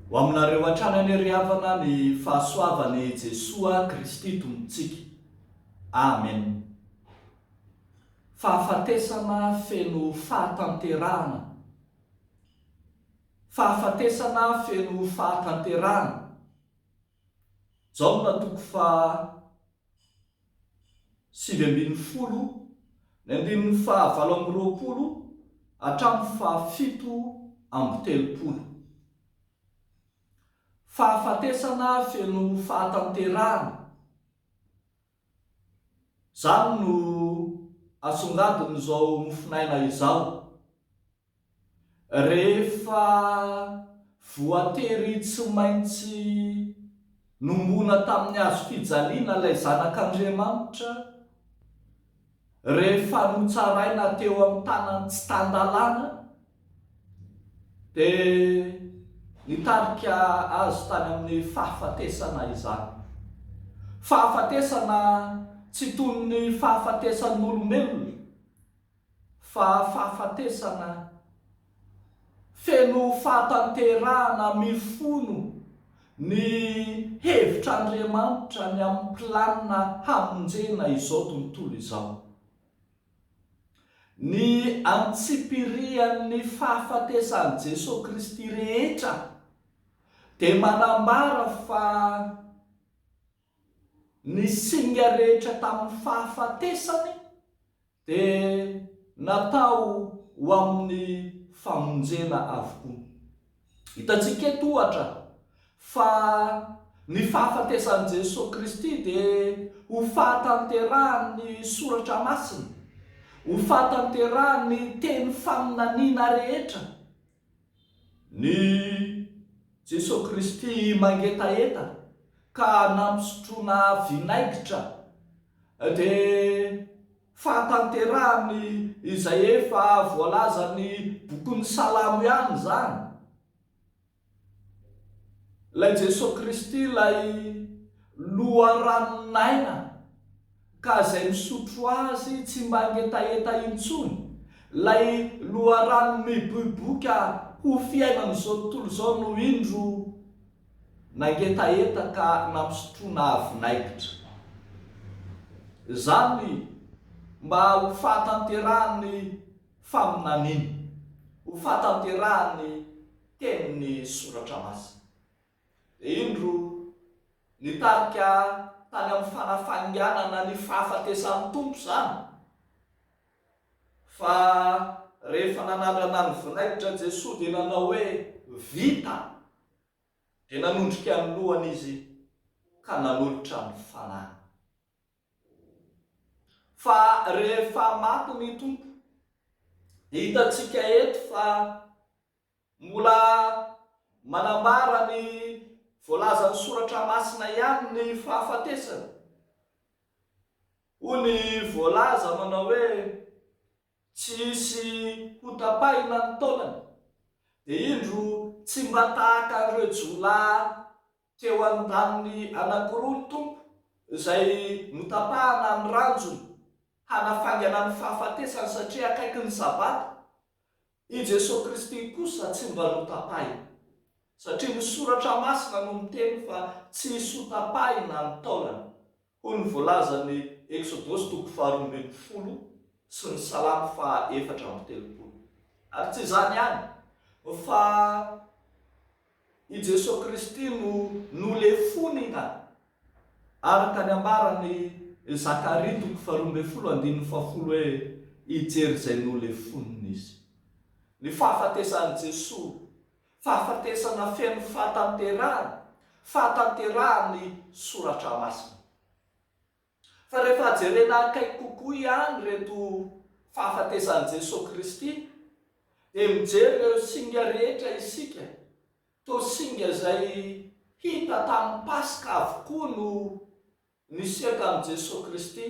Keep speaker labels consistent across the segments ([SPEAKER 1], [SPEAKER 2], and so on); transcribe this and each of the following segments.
[SPEAKER 1] Ho aminareo hatrany anie ry havana ny fahasoavan' i Jesoa Kristy Tompontsika. Amen. Fahafatesana feno fahatanterahana. Fahafatesana feno fahatanterahana. Jaona toko faha sivy ambin'ny folo, ny andininy faha valo amby roapolo hatramin'ny faha fito amby telopolo. Fahafatesana feno fahatanterahana. Izany no asongadin'izao mofonaina izao. Rehefa voatery tsy maintsy nombona tamin'ny hazofijaliana ilay Zanak'Andriamanitra, Rehefa notsaraina teo amin'ny tanan'ny tsy tan-dalàna, dia nitarika azy tany amin'ny fahafatesana izany. Fahafatesana tsy toy ny fahafatesan'olombelona, fa fahafatesana. feno fahatanterahana mifono ny hevitr'Andriamanitra ny amin'ny planina hamonjena izao tontolo izao. Ny antsipirian'ny fahafatesan'i Jesoa Kristy rehetra dia manambara fa Ny singa rehetra tamin'ny fahafatesany dia natao ho amin'ny famonjena avokoa. Hitantsika eto, ohatra, fa ny fahafatesan'i Jesoa Kristy dia ho fahatanterahan'ny Soratra Masina, ho fahatanterahan'ny teny faminaniana rehetra, Ny Jesoa Kristy mangetaheta ka nampisotroana vinaigitra dia fahatanterahany izay efa voalazan'ny bokin'ny Salamo ihany izany. Ilay Jesoa Kristy ilay loharanon'aina. ka izay misotro azy tsy mba ngetaheta intsony, ilay loharano miboiboika ho fiainan'izao tontolo izao no indro nangetaheta ka nampisotroina vinaigitra. Izany mba ho fahatanterahan'ny faminaniana, ho fahatanterahan'ny tenin'ny Soratra Masina. Indro, nitarika tany amin'ny fanafainganana ny fahafatesan'ny Tompo izany, fa rehefa nanandrana ny vinaigitra Jesoa dia nanao hoe, Vita! Dia nanondrika ny lohany Izy ka nanolotra ny Fanahiny. Fa rehefa maty ny Tompo, dia hitantsika eto fa Mbola manambara ny voalazan'ny Soratra Masina ihany ny fahafatesana. Hoy ny voalaza manao hoe, Tsy hisy hotapahina ny taolany. Dia indro tsy mba tahaka an'ireo jiolahy teo an-daniny anankiroa ny Tompo, izay notapahana ny ranjony hanafaingana ny fahafatesany satria akaiky ny Sabata. I Jesoa Kristy kosa tsy mba notapahina, satria ny Soratra Masina no miteny fa tsy hisy hotapahina ny taolany, hoy ny voalazan'ny Eksodosy toko faharoa ambin'ny folo sy ny Salamo faha efatra amby telopolo. Ary tsy izany ihany, fa. I Jesoa Kristy no nolefony nga? Araka ny ambaran' i Zakaria toko faharoa ambin'ny folo andininy fahafolo hoe hijery izay nolefoniny izy. Ny fahafatesan' i Jesoa, fahafatesana feno fahatanterahana, fahatanterahan' ny Soratra Masina. Fa rehefa jerena akaiky kokoa ihany ireto fahafatesan'i Jesoa Kristy dia mijery ireo singa rehetra isika, toa singa izay hita tamin'ny Paska avokoa no nisiaka amin'i Jesoa Kristy,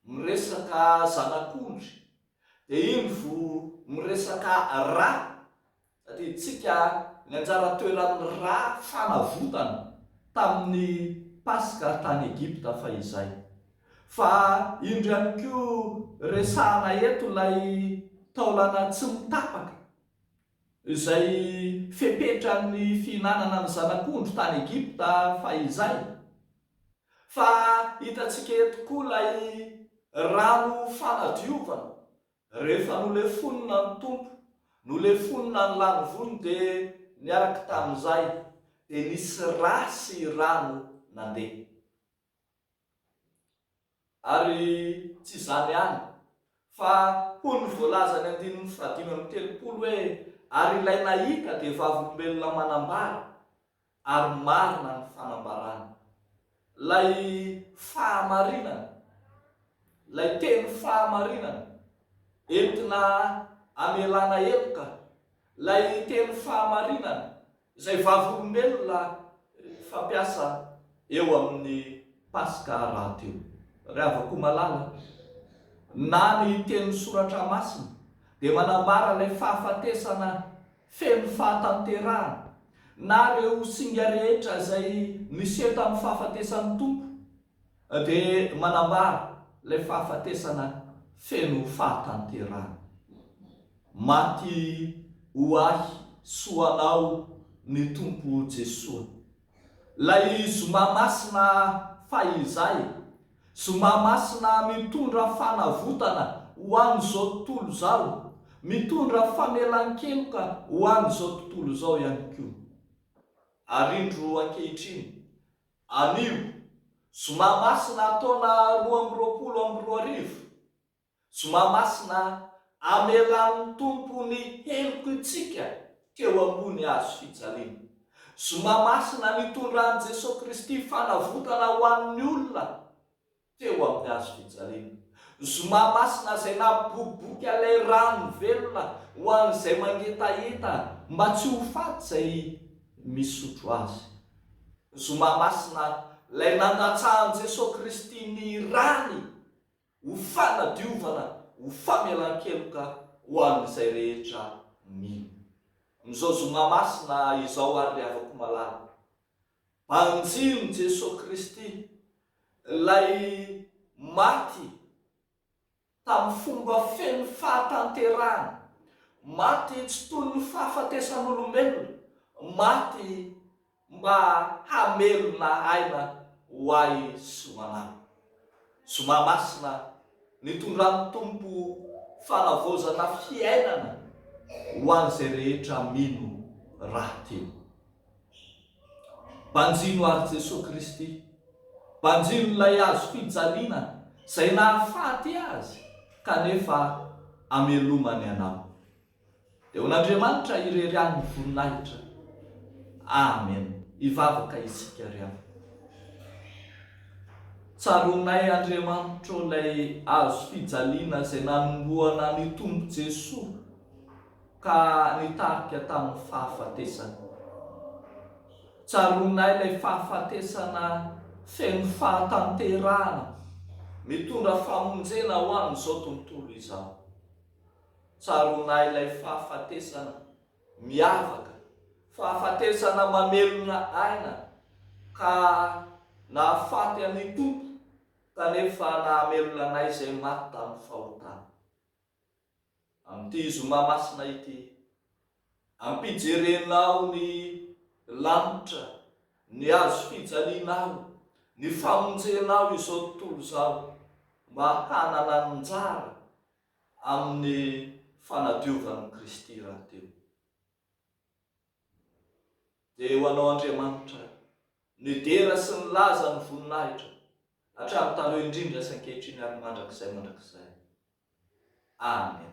[SPEAKER 1] miresaka zanak'ondry, dia indro miresaka ra Tadidintsika ny anjara toeran'ny ra fanavotana tamin'ny Paska tany Egypta fahizay. Fa indro ihany koa resahana eto ilay taolana tsy mitapaka, izay fepetran'ny fihinanana ny zanak'ondry tany Egypta fahizay. Fa hitantsika eto koa ilay rano fanadiovana Rehefa nolefonina ny Tompo, nolefonina ny lanivony dia niaraka tamin'izay dia nisy ra sy rano nandeha. Ary tsy izany ihany fa hoy ny voalazan'ny andininy fahadimy amby telopolo hoe ary ilay nahita dia vavolombelona manambara Ary marina ny fanambarany. Ilay fahamarinana, ilay teny fahamarinana, entina amelana heloka, ilay teny fahamarinana, izay vavolombelona fampiasa eo amin'ny Paska rahateo. Ry havako malala, na ny tenin'ny Soratra Masina dia manambara ilay fahafatesana Feno fahatanterahana, na ireo singa rehetra izay niseho tamin'ny fahafatesan'ny Tompo dia manambara ilay fahafatesana feno fahatanterahana. Maty ho ahy sy ho anao ny Tompo Jesoa. Ilay Zoma Masina fahizay. Zoma masina mitondra fanavotana ho an'izao tontolo izao, mitondra famelan-keloka ho an'izao tontolo izao ihany koa. Ary indro ankehitriny, anio, zoma masina taona roa amby roapolo amby roa arivo, Tsy mahamasina amelan'ny Tompo ny heloky ntsika teo ambony hazo fijaliana. Tsy mahamasina nitondran'i Jesoa Kristy fanavotana ho an'ny olona teo amin'ny hazo fijaliana. Tsy mahamasina izay naboboka ilay rano velona ho an'izay mangetaheta mba tsy ho faty izay misotro azy. Tsy mahamasina ilay nandatsahan'i Jesoa Kristy ny rany. ho fanadiovana, ho famelan-keloka ho an'izay rehetra mino. Amin'izao zoma masina izao àry ry havako malala, banjin'i Jesoa Kristy, ilay maty tamin'ny fomba feno fahatanterahana, maty tsy toy ny fahafatesan'olombelona, maty, mba hamelona aina ho ahy sy ho anao. Zoma Masina nitondran'ny Tompo fanavaozana fiainana ho an'izay rehetra mino rahateo. Banjino ary Jesoa Kristy, banjino ilay hazo fijaliana izay nahafaty Azy kanefa amelomany anao. Eo an'Andriamanitra irery any ny voninahitra. Amen. Hivavaka isika ry havana. Tsaroanay Andriamanitra ô ilay hazo fijaliana izay nanomboana an'io Tompo Jesoa ka nitarika tamin'ny fahafatesany. Tsaroanay ilay fahafatesana feno fahatanterahana mitondra famonjena ho an'izao tontolo izao. Tsaroanay ilay fahafatesana miavaka, fahafatesana mamelona aina, ka nahafaty an'ny Tompo, kanefa nahamelona anay izay maty tamin'ny fahotana. Amin'ity Zoma Masina ity, ampijerenao ny lanitra, ny hazo fijalianao, ny famonjenao izao tontolo izao, mba hanana anjara amin'ny fanadiovan'i Kristy rahateo. Dia ho anao Andriamanitra nidera sy nilaza ny voninahitra hatramin'ny taloha indrindra sy ankehitriny ary mandrakizay mandrakizay. Amen.